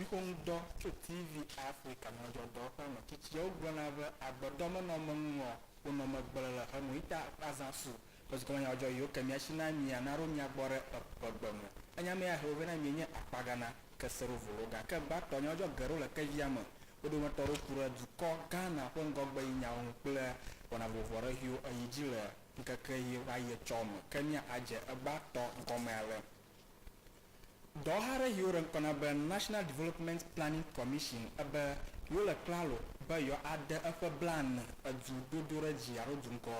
Nuxoŋuɖɔ tso TV Africa nyadzɔdzɔ ƒe me tsitsiawo gblɔna be, Agbedɔ menɔ me ŋu o, wonɔ me gblẽ le xe me. Ita azã su ƒe dukɔme nyadzɔdzɔ yiwo ke mía si na mí ya naɖo mía gbɔ ɖe eƒu ƒe gbe me. Enya me ya he wo vɛ na mí enye akpaga na keseɖovolo. Gake gbãtɔ nyadzɔdzɔ geɖewo le kevia me. Wo dometɔ aɖewo ku ɖe dukɔ Ghana ƒe ŋgɔgbeɣinyawo ŋu kple wɔna vovovo aɖe ʋiwo eyi dzi le ŋkeke ʋi va yi etsɔ me. Ke mía adze egbãtɔ gɔme ale. Dɔwɔha aɖe yi woɖe ŋkɔ na be National Development Planning Commission ebe yewole klalo be yewoade eƒe blaene edu dodoɖedzi alo du ŋkɔ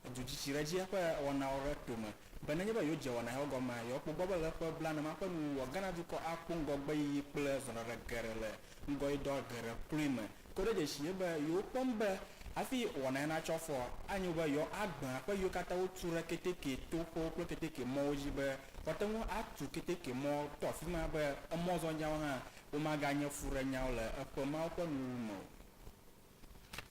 edu tsitsi ɖe edzi eƒe wɔnawo ɖe tome be nenye be yewodze wɔna yawo gɔmea, yewokpɔ gbɔ be le eƒe blaene ma ƒe nuwuwua, Ghana dukɔ akpɔ ŋgɔgbeyiyi kple zɔɖaɖa geɖe le ŋgɔyidɔ geɖe kloe me. Kɔ ɖe dzesi dzi be yewokpɔm be hafi wɔna ya natso afɔa, anyo be yewoagbã aƒe yiwo katã wotu ɖe keteke toƒewo kple keteke mɔwo dzi be woate ŋu atu keteke mɔ to afi ma be emɔzɔnyawo hã womaganye fuɖenyawo le eƒe mawo ƒe nuwuwu me o.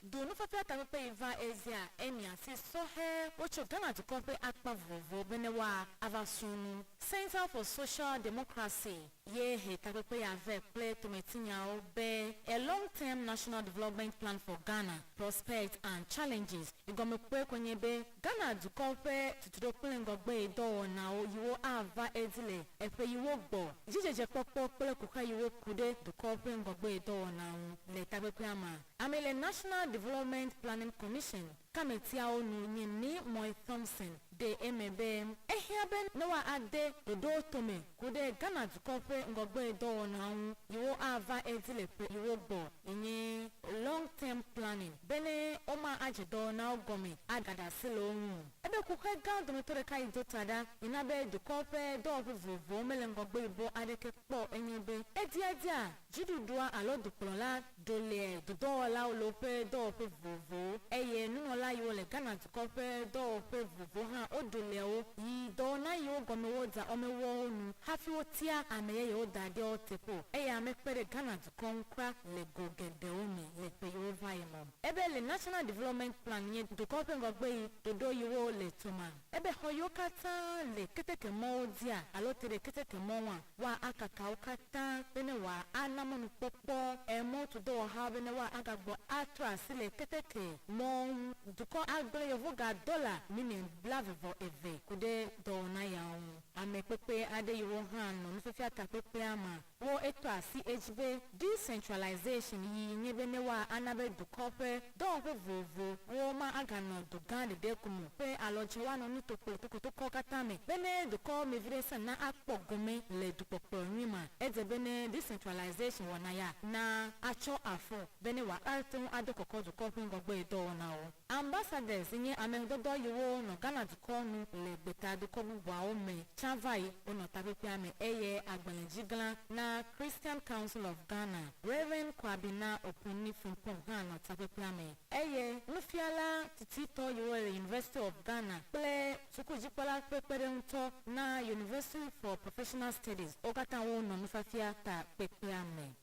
Do nufiafia takpekpe yi va Asia, emia, si sɔhɛ wotso Ghana dukɔ ƒe akpa vovovowo be ne woa ava srɔ̃ nu, Centre for Social Democracy. ye he takpekpe ya vɛ kple tometinyawo be A Long Term National Development Plan for Ghana, Prospects and Challenges. Egɔmekpɔe koe nye be Ghana dukɔ ƒe tutuɖo kple ŋgɔgbeyidɔwɔnawo yiwo ava edzi le eƒeyiwo gbɔ, dzidzedzekpɔkpɔ kple kuxa yiwo ku ɖe dukɔ ƒe ŋgɔgbeyidɔwɔna ŋu le takpekpea mea, amee le National Development Planning Commission. Kametiawo nu nye Nii Moy Thompson ɖe eme be ehiã be ne woade ɖoɖowo tome ku ɖe Ghana dukɔ ƒe ŋgɔgbedɔwɔnawo ŋu yiwo ava edzi le ƒe yiwo gbɔ enye long term planning bene woma adze dɔwɔnawo gɔme agaɖe asi le wo ŋu o. Ebe kuxɛ gã dometɔ ɖeka yi do ta ɖa yi na be dukɔ ƒe dɔwɔƒe vovovowo mele ŋgɔgbe yibɔ aɖeke kpɔ o enye be ediadia dziɖuɖua alo dukplɔla Ɖonɛ dodɔwɔlawo le woƒe dɔwɔƒe vovovowo, eye nunɔla yiwo le Ghana dukɔ ƒe dɔwɔƒe vovovowo hã woɖonɛ wo, yi dɔwɔna yiwo gɔme woda wɔmewɔwo nu hafi wotia ame yeyewo da ɖe wo teƒe o, eye ame kpe ɖe Ghana dukɔ ŋu kura le go geɖewo me le ƒe yiwo va yi me. Ebe le National Development Plan nye dukɔ ƒe ŋgɔgbeɣi ɖoɖo yiwo le to ma. Ebe xɔ yiwo katã le ketekemɔwo dzia alo te ɖe ketekemɔ ŋua, woakaka wo katã be ne wòa ana mɔnukpɔkpɔ emɔtudɔwɔhawo be ne woa agagbɔ atrɔ asi le keteke mɔwo ŋu. Dukɔ agblẽ yevoga dɔla miliɔn blave vɔ eve ku ɖe dɔwɔna yawo ŋu. Ame kpekpe aɖe yiwo hã nɔ nufiafia takpekpea me Wo etɔ asi edzi be decentralization yi nye be ne woa ana be dukɔ ƒe dɔwɔƒe vovovo wo ma aga nɔ du gã ɖeɖe ko me ƒe alɔdzi woa nɔ nuto kple tokotokɔ katã me be ne dukɔ me viɖe sã na akpɔ gome le dukpɔkplɔ nyui ma edze be ne decentralization wɔna ya na atsɔ afɔ be ne woa ate ŋu adɔ kɔkɔ dukɔ ƒe ŋgɔgbe dɔwɔnawo. Ambassadeurs si nye amedɔdɔ yiwo nɔ Ghana dukɔ nu le gbeta dukɔ bubuawo me tsã va yi wonɔ takpekpea me eye agbalẽdzigla na Christian Council of Ghana, Rev. Kwabena Okunni Frimpong hã nɔ takpekpea me eye nufiala tititɔ yiwo le University of Ghana kple sukudzikpɔla ƒe kpeɖeŋutɔ na University for Professional Studies wo katã wo nɔ nufiafia takpekpea me.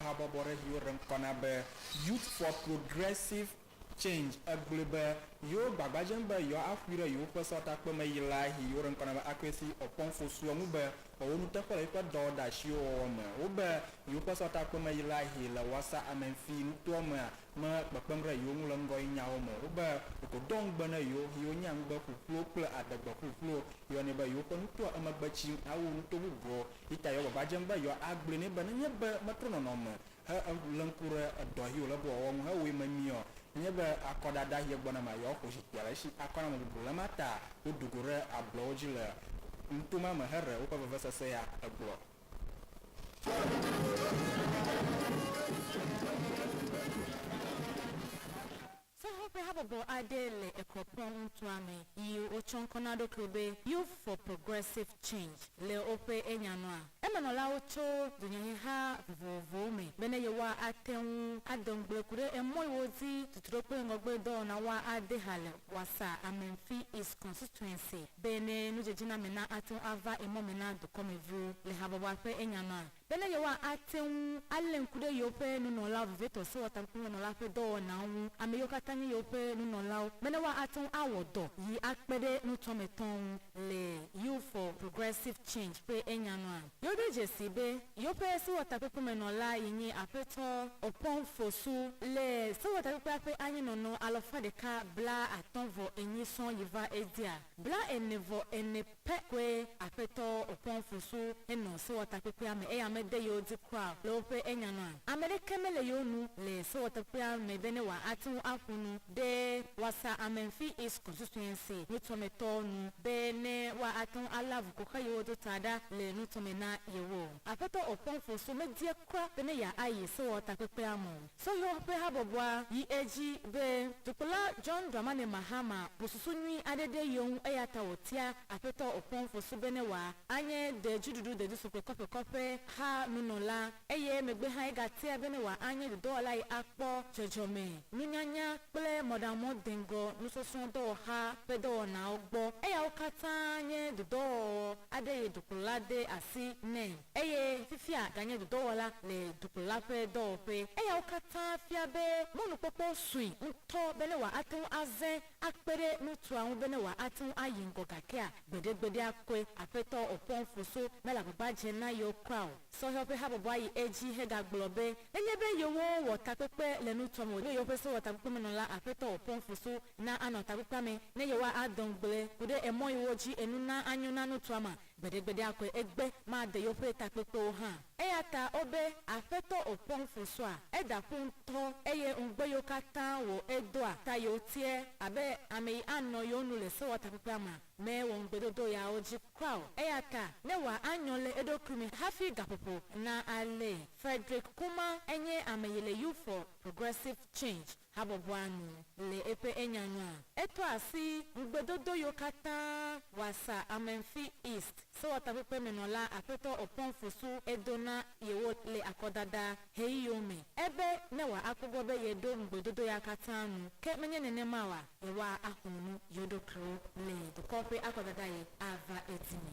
Habɔbɔɖeviwo ɖe ŋkɔ na be Youth for Progressive Change. Egblɔe be yewo gbagba dzem be yewoaƒoe ɖe yewoƒe sewɔtakpeme yi la hi woɖe ŋkɔ na be Akwesi Oppong Fosuo ŋu be wòawo nuteƒe le yewoƒe dɔwɔɖeasiwo wɔwɔ me. Wobe yewoƒe sewɔtakpeme yi la hi le Wassa Amenfi nutoa mea me kpekpem ɖe yewo ŋu le ŋgɔyi nyawo me. Wobe wògodoa ŋugbe ne yewo hi wonye ŋugbe ƒuƒluwo kple adegbe ƒuƒluwo yɔnɛ be yewoƒe nutoa emegbe tsim awu nuto bubuwo. Peter yɔ gbagba dzeŋ be yewoa a gblɔe nɛ be, nenye be metrɔ nɔnɔme he e le ŋku ɖe edɔ yi wòle be wòawɔ ŋu he wɔe memie ɔ, nenye be akɔ ɖaɖa yi egbɔ na ma yewoa xo zikpuia le esi akɔ na ame bubu. Le ma ta wo ɖu go ɖe ablɔwo dzi le nuto ma me he ɖe woƒe vevesese ya. Egblɔ. Sahel ƒe habɔbɔ aɖe le Ekropong nutoa me yi wotsɔ ŋkɔ na wo ɖokuiwo be Youth for Progressive Change. Le woƒe enyanɔa, emenɔlawo tso dunyaheha vovovowo me bene yewoate ŋu ado ŋugble ku ɖe emɔ yi wodi tuturo kple ŋgɔgbe dɔwɔna woade ha le Wassa Amenfi East Constituency bene nudzedzename na ate ŋu ava emɔ me na dukɔmeviwo. Le habɔbɔa ƒe enyanɔa, Bene yewoate ŋu alé ŋku ɖe yewoƒe nunɔlawo vevitɔ Sewɔtakpekpemenɔ la ƒe dɔwɔnawo ŋu, ame yiwo katã nye yewoƒe nunɔlawo, bene woate ŋu awɔ dɔ yi akpe ɖe nutɔametɔwo ŋu le Youth for Progressive Change ƒe enya nua. Yewoɖo dzesii be yewoƒe Sewɔtakpekpemenɔ la yi nye Aƒetɔ Obpong Fosu le Sewɔtakpekpea ƒe anyinɔnɔ alɔfa ɖeka bla atɔ̃ vɔ enyi sɔŋ yi va edzia bla ene vɔ ene. Ƒe kɔe Aƒetɔ Okonkwo su henɔ sewɔtakpekpea me eya mede yewo dzi kura o. Le woƒe enya nua, ame ɖeke mele yewo nu le sewɔtakpea me be ne wòate ŋu aƒo nu ɖe Wɔsa Amenfi East Constituency nutɔmetɔ nu be ne woate ŋu alé avu ƒo xlã yewo do ta ɖa le nutɔme na yewo o. Aƒetɔ Okonkwo su medie kura be ne yeayi sewɔtakpekpea me o. Sɔhɛ ƒe habɔbɔa yi edzi be, Dukplɔla John Dramani Mahama bu susu nyui aɖe ɖe yewo ŋu eya ta wòtia Aƒetɔ Oppong Fosu bene wòanye de dziɖuɖu dedusu ƒe kɔƒekɔ ƒe ha nunɔla eye emegbe hã egatia bene wòanye dɔdɔwɔla yi akpɔ dzɔdzɔme nunyanya kple mɔɖaŋumɔdeŋgɔ nusɔsrɔ̃ dɔwɔxa ƒe dɔwɔnawo gbɔ. Eyawo katã nye dɔdɔwɔwɔ aɖe yi dukplɔla de asi nɛ. Eye fifia ganye dɔdɔwɔla le dukplɔla ƒe dɔwɔƒee. Eyawo katã fia be mɔnukpɔkpɔ sue ŋutɔ bene wòate ŋu azẽ akpe ɖe ŋutsua ŋu bene wòate ŋu ayi ŋgɔ gakea? Gbeɖegbeɖea koe Aƒetɔ Okpɔnfoso mele agbagba dzem na yewo kura o. Sɔhɛwo ƒe habɔbɔa yi edzi hegagblɔ be, Nenye be yewowɔ takpekpe le nutsua me o, ɖo yewoƒe sewɔtakpekpemenɔla Aƒetɔ Okpɔnfoso na anɔ takpekpea me ne yewoa adɔ ŋugble ku ɖe emɔ yiwo dzi enu na anyo na nutsua mea? Gbeɖegbeɖea koe egbe made yeoƒe takpekpewo hã. Eya ta wobe Aƒetɔ o pɔŋ fosua eda ƒu ŋutɔ eye ŋugbe yewo katã wo edoa ta yewo tie abe ameyi anɔ yewo nu le sewɔtakpekpea ma me wɔ ŋugbedodo yawo dzi kura o. Eya ta ne wa anyɔ le eɖokui me hafi gaƒoƒo na alee. Frederick Kumar enye ameyi le Youth for Progressive Change. habɔbɔa nu le eƒe enya nua. Etɔ asi ŋugbedodo yiwo katã wɔasa Amenfi East sewɔtakpekpemenɔla Aƒetɔ Oppong Fosu do na yewo le akɔdada ɣeyiɣiwo me ebe ne wòa akpɔ gbɔ be yeɖo ŋugbedodo ya katã nu, ke menye nenema oa, yewoa axlɔ̃ nu yewo ɖokuiwo le dukɔ ƒe akɔdada ɣi ava edzime.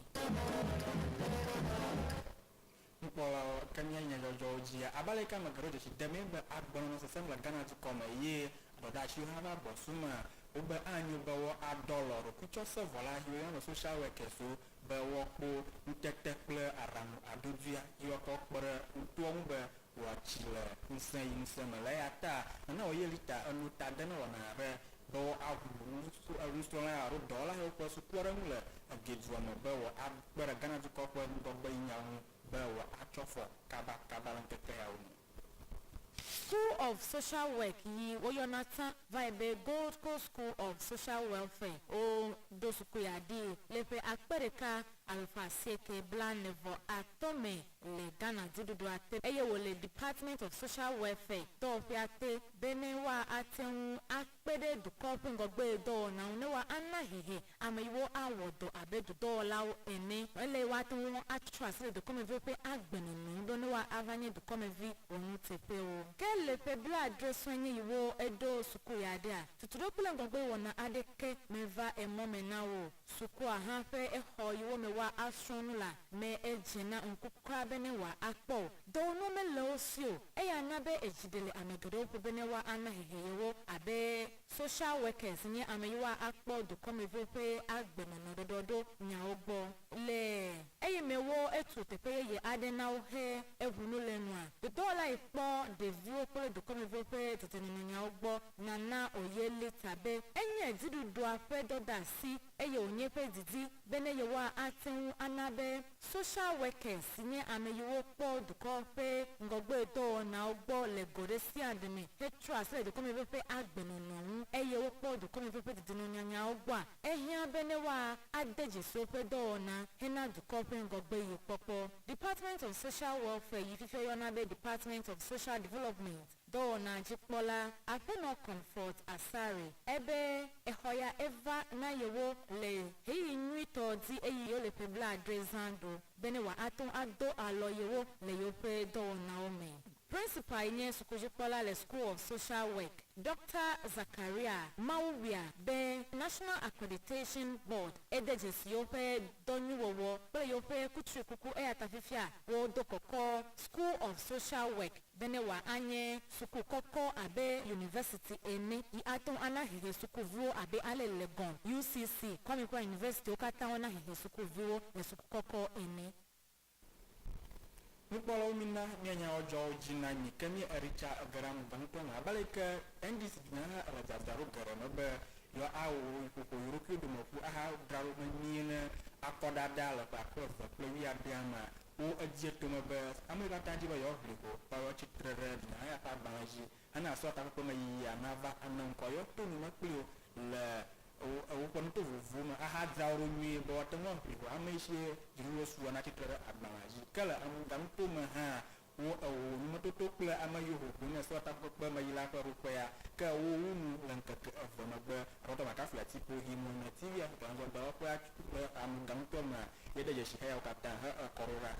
Nukpɔla, Ke nye nye dzɔdzɔwo dzia abe aleke ame geɖewo dze sii demee be agbenɔ nɔ sesem le Ghana dukɔ me eye dɔdeasiwo hã va gbɔ sumea? Wogbe anyo be wo adɔlɔ ɖokuitsɔsevɔla Julian le Social Workers wo be woakpo ŋutete kple aɖaŋu adodoea dzi woakɔ kpe ɖe ŋutoa ŋu be woatsi le ŋusẽ yi ŋusẽ me le eya ta nana wòye lita eno ta de ne wɔna aɖe be wo aʋu nu so enusrɔla ya alo dɔwɔla yiwo ƒe sukukpɔɖeŋu le Eggeh dua me be wo a kpe ɖe Ghana dukɔ ƒe ŋgɔgbenyinyawo ŋu be wo a tsɔ fɔ kaba kaba le ŋkeke yawo me. School of Social Work yi wo yɔna tsã vae be Gold Coast School of Social Welfare, wo ɖo suku ya ɖii le ƒe akpe ɖeka alafa asieke blanevɔ atɔ̃ me. le Ghana dziɖuɖua te eye wòle Department of Social Welfare dɔwɔƒea te be ne woate ŋu akpe ɖe dukɔ ƒe ŋgɔgbedɔwɔna ŋu ne woana hehe ameyiwo awɔ dɔ abe dudɔwɔlawo ene. Ele be woate ŋu atrɔ asi le dukɔmeviwo ƒe agbenɔnɔ ŋu be ne woava nye dukɔmevi wɔnuteƒewo. Ke le ƒe blaadre sue nye yi wo eɖo suku ya ɖea, tutuɖo kple ŋgɔgbewɔna aɖeke meva emɔ me na wo o. Sukua hã ƒe exɔ yi wo me woa a srɔ nu la me edze na ŋku kura be ne woa a kpɔ o. Dɔwɔ nua me le wo si o. Eya na be edzi ɖe le ame geɖewo ƒo be ne woa a na hehe ye wo abe social workers nye ame yi woa a kpɔ dukɔmeviwo ƒe a gbe nɔnɔ ɖɔɖɔ ɖo nyawo gbɔ le eye me wo etu teƒe yeye aɖe na wo he eŋu nu le nua dodɔwɔ la yi kpɔ ɖeviwo kple dukɔmeviwo ƒe dedie nɔnɔ nyawo gbɔ. Nana wòye lita be enye dziɖuɖua ƒe dɔdeasi eye wònye eƒe didi be ne yewoa ate ŋu ana be social workers si nye ame yiwo kpɔ dukɔ ƒe ŋgɔgbedɔwɔnawo gbɔ le go ɖe sia ɖe me hetrɔ asi le dukɔmevi ƒe agbenɔnɔ ŋu eye wokpɔ dukɔmevi ƒe dedinɔnyanyawo gbɔa, ehiã be ne woa ade dzi so ƒe dɔwɔna hena dukɔ ƒe ŋgɔgbeɣi kpɔkpɔ. Department of Social Welfare yi fifia yɔna be Department of Social Development. Dɔwɔna dzikpɔla Aƒenɔ Comfort Asare e be exɔ ya eva na yewo le ɣeyiɣi nyuitɔ di eyi yewo le ƒe blaadre zã ɖo bene wòa ato ado alɔ yewo le yewoƒe dɔwɔnawo me. Principal yi nye sukudzikpɔla le School of Social Work, Doctor Zachariah Mawuwia be National Accreditation Board e de dzesi yewoƒe dɔ nyuiwɔwɔ kple yewoƒe kutrikuku eyata fifia wo do kɔkɔ School of Social Work. bene wòanye suku kɔkɔ abe yunivɛsiti ene yi ate ŋu ana hehe sukuviwo abe ale Legon, UCC, Kwame ƒe yunivɛsitiwo katã wona hehe sukuviwo le suku kɔkɔ ene. Nukpɔlawo mina míanya wodzɔawo dzi na mí ke mí Erica gera nu gã ŋutɔ me. Abe aleke Endice biã hã le dzadzraɖo geɖe me be yewoawɔ ƒoƒo yewo ɖokui dome ƒu ahadzra ɖo vevie ne akɔdada le ƒe akpe eve kple wuiadea mea, Ƒo edzi tome be, Ame siwo katã di be yewoaʋli ho kpɔ yewo tsi tre ɖe Nehemiah ƒe agbalẽ dzi hena esrɔ̃ takpekpe me yiyia nava ene ŋkɔ yewo to nu me kpli wo le woƒe nuto vovovowo me ahadzra wo ɖo nyuie be woate ŋu aʋli ho ame si dzinu le sugbɔ natsi tre ɖe agbalẽa dzi. Ke le enuganuto me hã, wo eho numetoto kple ame siwo ho ʋu ne esrɔ̃ takpekpe me yila ƒe ɖoƒea, ke wo wu nu le ŋkeke eve megbe. Aƒetɔ McCaffrey ati ƒo him wɔ ne TV-a si dɔnɔdzɔdɔwɔƒea tso. Le amegã ŋutɔ mea, míeɖe dzesi xeyawo katã he ekɔ ɖo ɖa.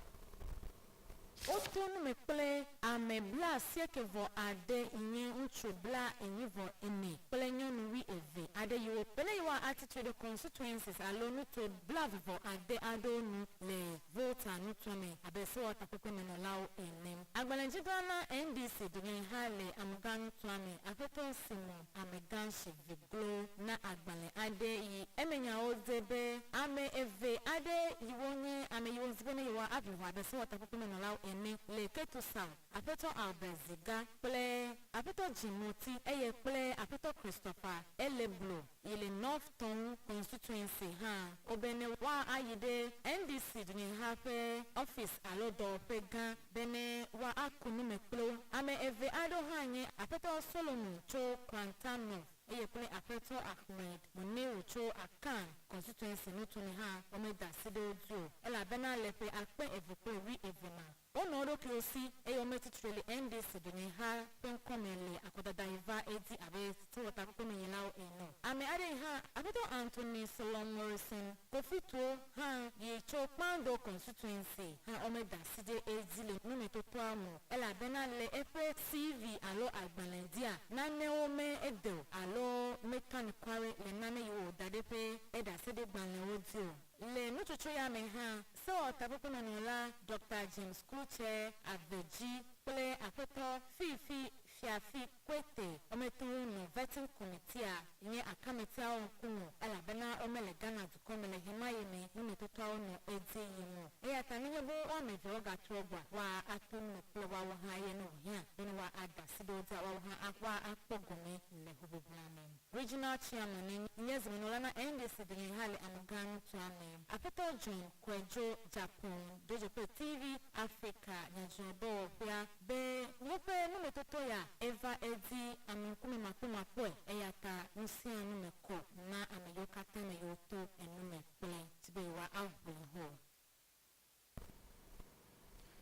Woto nu me kple ame blaasieke vɔ ade yi nye ŋutsu bla enyi vɔ ene kple nyɔnu wui eve aɖe yi wo bene yewoa a tsitre ɖe constituencies alo nuto blaeve vɔ ade aɖewo nu le Volta nutoa me abe sewɔtakpekpe me nɔlawo ene. Agbalẽdzigla na NDC dunyahɛha le amegã nutoa me, Aƒetɔ Simon. Amegã si dze klo na agbalẽ aɖe yi eme nyawo dze be ame eve aɖe yiwo nye ame yiwo wodi be ne yewoaʋli ho abe sewɔtakpekpemenɔlawo ene le Ketusau, Aƒetɔ Albert Ziga kple Aƒetɔ Jim Moti, eye kple Aƒetɔ Christopher Eleblo yi le North Tongu Constituency hã wo be ne woayi ɖe NDC dunyeha ƒe ɔfisi alo dɔwɔƒe gã. Bene wa aku nu me kplo. Ame eve aɖewo hã nye Aƒetɔ Solomo tso Krantan North eye kple Aƒetɔ Ahmed Muniru tso Akan Constituency nuto me hã wome da asi ɖe wo dzi o elabena le ƒe akpe eve kple wui eve ma wonɔ wo ɖokuiwo si eye wome tsitre le NDC dunyeha ƒe ŋkɔ me le akɔdada yi va edzi abe sewɔtakpekpemenyilawo ene. Ame aɖee hã, Aƒetɔ Anthony Sloan Morrison, Kofi Tuo hã yi tso Kpando Constituency hã womeda asi ɖe edzi le nɔnɔmetɔtɔa me o elabena le eƒe CV alo agbalẽdia nanewo me ede o alo meka nukware le nane yi wòwɔ da ɖe ƒe eɖaseɖegbalẽwo dzi o. Le nutsotso ya me hã, sewɔtakpekpemenɔla Doctor James Klutse, Ave Dzi, kple Aƒetɔ Fee Fee Fiafi Koete wɔmetɔwo nɔ Vetting Committeea nye akametiawo ŋkume elabena womele Ghana dukɔ me le ɣemaɣi me nɔnɔtɔtɔawo nɔ edzi yim o. Eya ta nenye be wo ame eveawo gatrɔ gbɔa, woa ato nu me kple woawo hã ye ne wòhiã be ne woa ade asi ɖe wo dzi woawo hã awa akpɔ gome le hoʋiʋlia me. Regional Chairman enye nye zimenɔla na NDC dunyaha le amegã nutoa me. Aƒetɔ John Koejo Japan Dzodzokple TV Afrika Nyadzɔdɔwɔƒea Be woƒe numetotɔya eva edzi ame ŋkumemakpɔmakpɔe, eyata nusianu me kɔ na ame yiwo katã me yewo to enume kple di be yewoa aʋli hɔ.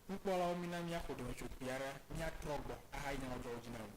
Nukpɔlawo, mina míaƒo ɖɔmetso kpui aɖe, míatrɔ gbɔ ahayi nyamɔdzɔwo dzi na mi.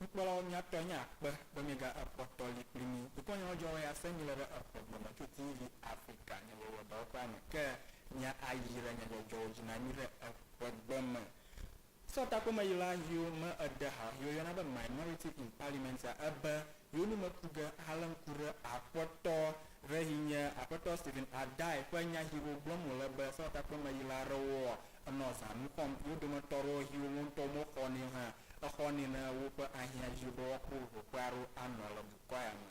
Nukpɔlawo miatɔ nye akpe be miega ekpɔ tɔ li kpli mi. Dukɔ nyawo dzɔ wɔ ya se mi le ɖe exɔ gbe me tso TV Africa nye le wɔ dɔwɔƒea me ke mia ayi ɖe nye dzɔdzɔwo dzi na mi ɖe eƒe gbe me. Sɔ takpomeɣla yiwo me eɖe ha yi woyɔna be minority in parliament a ebe yiwo nu me ku ge ahalé ŋku ɖe Akpɔtɔ re yi nye Akpɔtɔ Stephen Addae ƒe nya hiwo gblɔm wòle be sɔ takpomeɣla rewo ɔ enɔ zãnu xɔm yi wo dometɔ rewo hiwo wo ŋutɔ wo me xɔ nɛ o hã exɔ nɛ ne woƒe ahiã yi be woakpɔ ʋuƒoƒea ro anɔ le dukɔa ya me.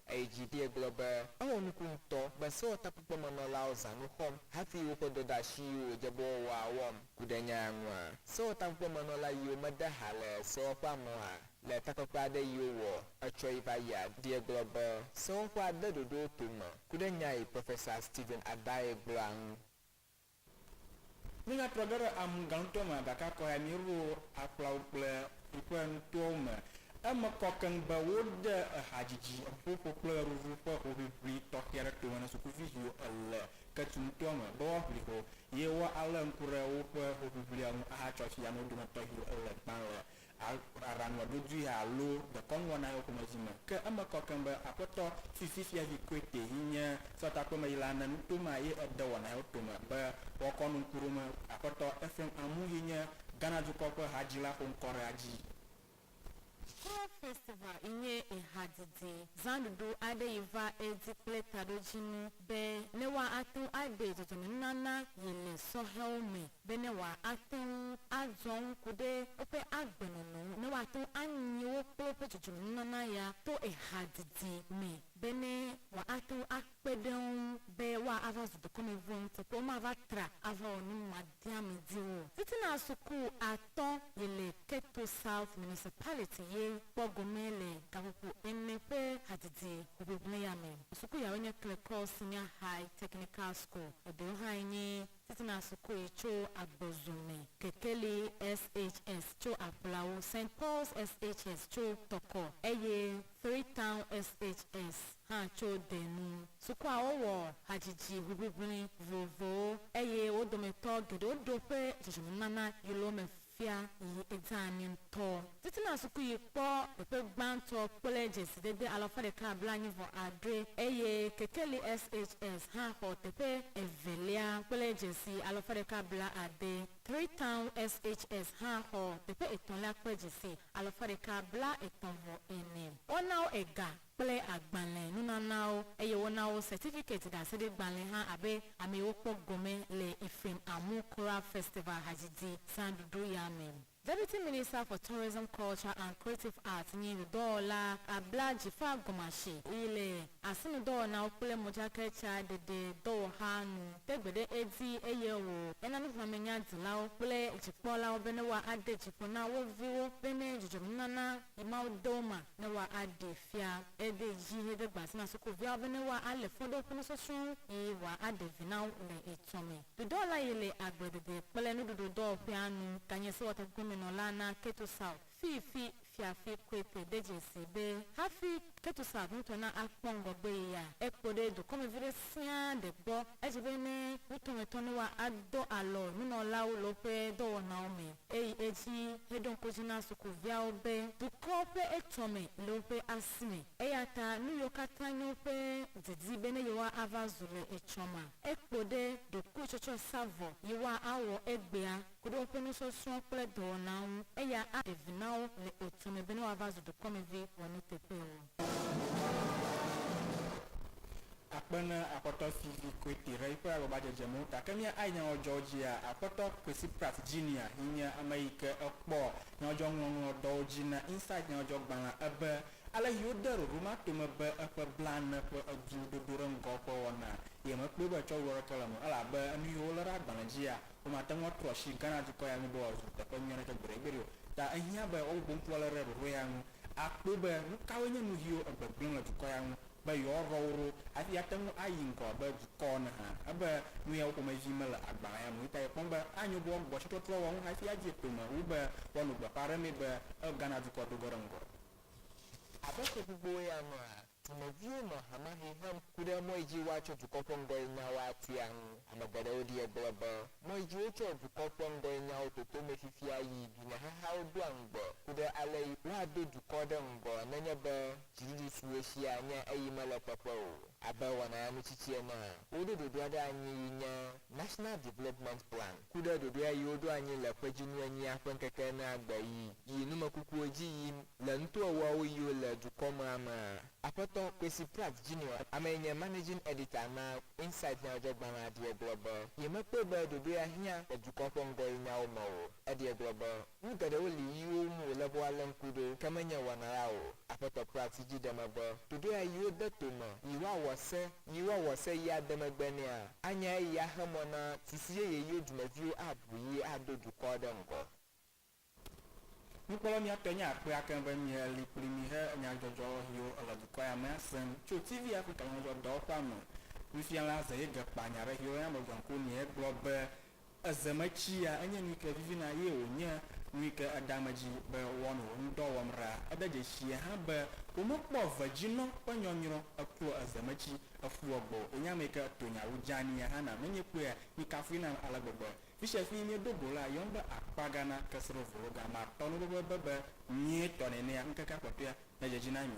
Eyi dzi vie gblɔ be, Ewɔ nuku ŋutɔ be sewɔtakpekpemenɔlawo zã nu xɔm hafi woƒe dɔdeasi yiwo wòdze be woawɔa wɔm. Ku ɖe nya ya ŋua? Sewɔtakpekpemenɔla yiwo mede ha le sewɔƒea me oa? Le takpekpe aɖe yi wowɔ etsɔ yi va yia vie gblɔ be, Sewɔƒea de ɖoɖowo tome. Ku ɖe nya yi Profesa Stephen Addae gblɔa ŋu. Míatrɔ ge ɖe amu gã ŋutɔ me gake kɔyae míeɖo akplawo kple ƒuƒe nutoawo me. Eme kɔ keŋ be wode ehadzidzi, eŋuƒoƒo kple ɣeɖuɖu ƒe hoʋiʋli tɔxɛ aɖe tome na sukuvi siwo le Ketu nutoa me be woaʋli ho ye woalé ŋku ɖe woƒe hoʋiʋlia ŋu ahatsɔ asi amewo dometɔ siwo le gbã le alo aɖaŋua ɖoɖoe alo dekɔnuwo na yewo ƒomevi me. Ke eme kɔ keŋ be Aƒetɔ fifi fiavi Koete yi nye sɔtakpemeyila ne nuto ma ye ede wɔ na yewo tome be woakɔ nu ŋkuɖome. Aƒetɔ Ephraim Amu yi nye Ghana dukɔ ƒe hadzila xo ŋkɔ ɖe adzi. Sure Festival yi nye ehadidi zãɖuɖu aɖe yi va edzi kple taɖodzinu. be ne woate ŋu aɖe dzɔdzɔmenunana yi le sɔhɛwo me, be ne woate ŋu azɔ ŋku ɖe woƒe agbenɔnɔ ŋu, ne woate ŋu anyi wo kple woƒe dzɔdzɔmenunana ya to ehadidi me, be ne woate ŋu akpe ɖe wo ŋu be woava zu dukɔmevɔ̃ ŋuti kple womava tra ava wɔ nu ma. dia mi di wo. Titina suku atɔ yi le Keto South Municipality ye kpɔ gome le gaƒoƒo ene ƒe hadidi hoʋiʋli ya me. Suku yawoe nye Klekɔɔ Senior High Technical School, eɖewo hãe nye Titina suku yi tso Agbozu me, Kekeli SHS tso Aƒlawo, Saint Paul's SHS tso Tɔkɔ eye Three Town SHS. hã tso de nu. Sukuawo wɔ hadzidzi ʋiʋiʋli vovovowo eye wo dometɔ geɖewo ɖo ƒe dzɔdzɔmenunana yilo me fia yi edze anyi ŋutɔ. Titina sukuɣi kpɔ teƒe gbãtɔ kple dzesidede alafa ɖeka blaenyi vɔ adre eye Kekeli SHS hã xɔ teƒe evelia kple dzesi alafa ɖeka blaade. Three Town SHS hã xɔ teƒe etɔ̃lia kple dzesi alafa ɖeka blaetɔ̃ vɔ ene. Woana wo ega kple agbalẽ nunanawo, eye wona wo sɛtifikɛti ɖaseɖegbalẽ hã abe ame yi wokpɔ gɔme le Ephraim Amu Korah Festival hadzidzi zãɖuɖu ya me. Deputy Minister for Tourism, Culture and Creative Arts nyi ŋudɔwɔla abla dzi fa gɔmeashi yi le asinudɔwɔnawo kple modzakatsa ɖeɖe dɔwɔxa nu, te gbe ɖe edzi eye wò ena nuxlɔ̃amenya dilawo kple dzikpɔlawo bene woa ade dzi ƒo na wo viwo bene dzudzɔmenunana yi Mawu dɔ ma ne woa a ɖe fia ede dzi he de gba si na sukuviawo be ne woa a le fɔ ɖe woƒe nusɔsrɔ̃wo yi woa a ɖe vi na wo le etsɔ me. Ɖoɖɔla yi le agble dede kple nuɖuɖu dɔwɔƒea nu ganye sewɔtakpekpe me nɔla na Keto South, fifi Fiafi Quaite de dze si be hafi Ketusav ŋutɔ na akpɔ ŋgɔgbee ya. Ekpɔ ɖe dukɔmevi ɖe sia ɖe gbɔ. Edze be ne nutɔmetɔ Noa adɔ alɔ nunɔlawo le woƒe dɔwɔnawo me, eyi edzi heɖo ŋku edzi na sukuviawo be dukɔ ƒe etsɔme le woƒe asi me. Eya ta nuyiwo katã nye woƒe didi be ne yewoava zu le etsɔmea, ekpɔ ɖe ɖokuitsɔtsɔsavɔ yi woawɔ egbea. ku ɖe woƒe nusɔsrɔ̃ kple dɔwɔnawo ŋu, eya aɖe vi na wo le etu me be ne woava zu dukɔmevi wɔnuteƒewo. Akpe na Akpɔtɔ Fivi Kwete ɖe yiƒe agbagba-dzedze me ŋu ta. Ke mía ayi nyɔwɔdzɔwo dzia? Akpɔtɔ Kwesi Pratt Junior yi nye ame yi ke ekpɔ nyɔwɔdzɔŋlɔŋlɔ dɔwo dzi na Insight nyɔwɔdzɔgbalẽa ebe, ale yi wode ɖoɖo ma tome be eƒe blaene ƒe edu dodo ɖe ŋgɔwo ƒe wɔna, ye mekpɔe be tsɔwuɖu aɖeke le eme o, elabe enu yi wolé ɖe agbalẽ dzia, Womate ŋu atrɔ asi Ghana dukɔ ya ŋu be wòazu teƒe nyui aɖeke gbeɖegbeɖe o. Ta ehiã be woabubu ŋku alé ɖe ɖoɖo ya ŋu akpɔe be nukawoe nye nuviwo egbegblẽm le dukɔ ya ŋu be yewoaɖɔ wo ɖo hafi ate ŋu ayi ŋgɔ abe dukɔ ene hã. Ebe nuyawo ƒomevi mele agbalẽ ya me o eyata yekpɔm be anyo be woagbugbɔ asitrɔtrɔ wɔwɔ ŋu hafi adze kpeme wu be woano gbeƒãɖemee be Ghana dukɔ do ge ɖe ŋgɔ. Abe ƒe gbogbowoe ya nua, Dumeviwo nɔ hamahɛ hem ku ɖe mɔ yi dzi woatsɔ dukɔ ƒe ŋgɔnyenyawo atia ŋu. Ame geɖewo ɖie gblɔ be, mɔ yi dzi wotsɔa dukɔ ƒe ŋgɔnyenyawo toto mee fifia yi dunyahahawo doa ŋugbe ku ɖe ale yi woado dukɔ ɖe ŋgɔ nenye be dziɖuɖu si wotsia nye eyi mele kpekpe o. Abe wɔnaya mitsitsi enea, woɖo ɖoɖoa ɖe anyi yi nye National Development Plan, ku ɖe ɖoɖoea yi woɖo anyi le kpedzinu enyia ƒe ŋkeke enea gbe yi yi numekukuwo dzi yim le nutoewoawo yiwo le dukɔmea mea. Aƒetɔ Kwesi Pratt Junior, amee nye Managing Editor na Insight nyadzɔdzɔgbalẽa ɖee gblɔ be yemekpɔe be ɖoɖoea hiã le dukɔ ƒe ŋgɔyinyawo me o. Eɖee gblɔ be. Nu geɖewo li yiwo ŋu wòle be woalé ŋku ɖo, ke menye wɔna la o. Aƒetɔ kpɔa asi dzi ɖe megbe ɖoɖoea yi wode to me yi woawɔ se yi woawɔ se yi ade megbe nɛa. Anya eyi axe mɔ na sisi yeye yiwo dumeviwo aʋu yi ado dukɔ ɖe ŋgɔ. Nukpɔla nyuitɔ nye akpea keŋ be mie li kpli mi he nyadzɔdzɔ yiwo le dukɔ ya mea sem tso TV Afrika Nyadzɔdzɔ Dɔwɔƒea me. Nufiala Zeyegekpa nya ɖe yiwo yɔna be Gɔnkoni egblɔ be Eze me tsia enye nuyike vivina eye wònye nuyike eda ame dzi be woanɔ wò ŋudɔ wɔm ɖaa. Ede dzesii hã be womekpɔ eve dzi nɔ ƒe nyɔnyrɔ eklo eze me tsi efu egbɔ o. Wònye ameyike etonya wu dzeani hã nam. Menye kpuia mi kafui nam ale gbegbe. Fisia fii miedo go la, yɔm be akpa ga na keseɖovologa. Matɔ nuɖoɖoebe be nyuietɔ nenea ŋkekea kpɔtɔea nedzedzi na mi.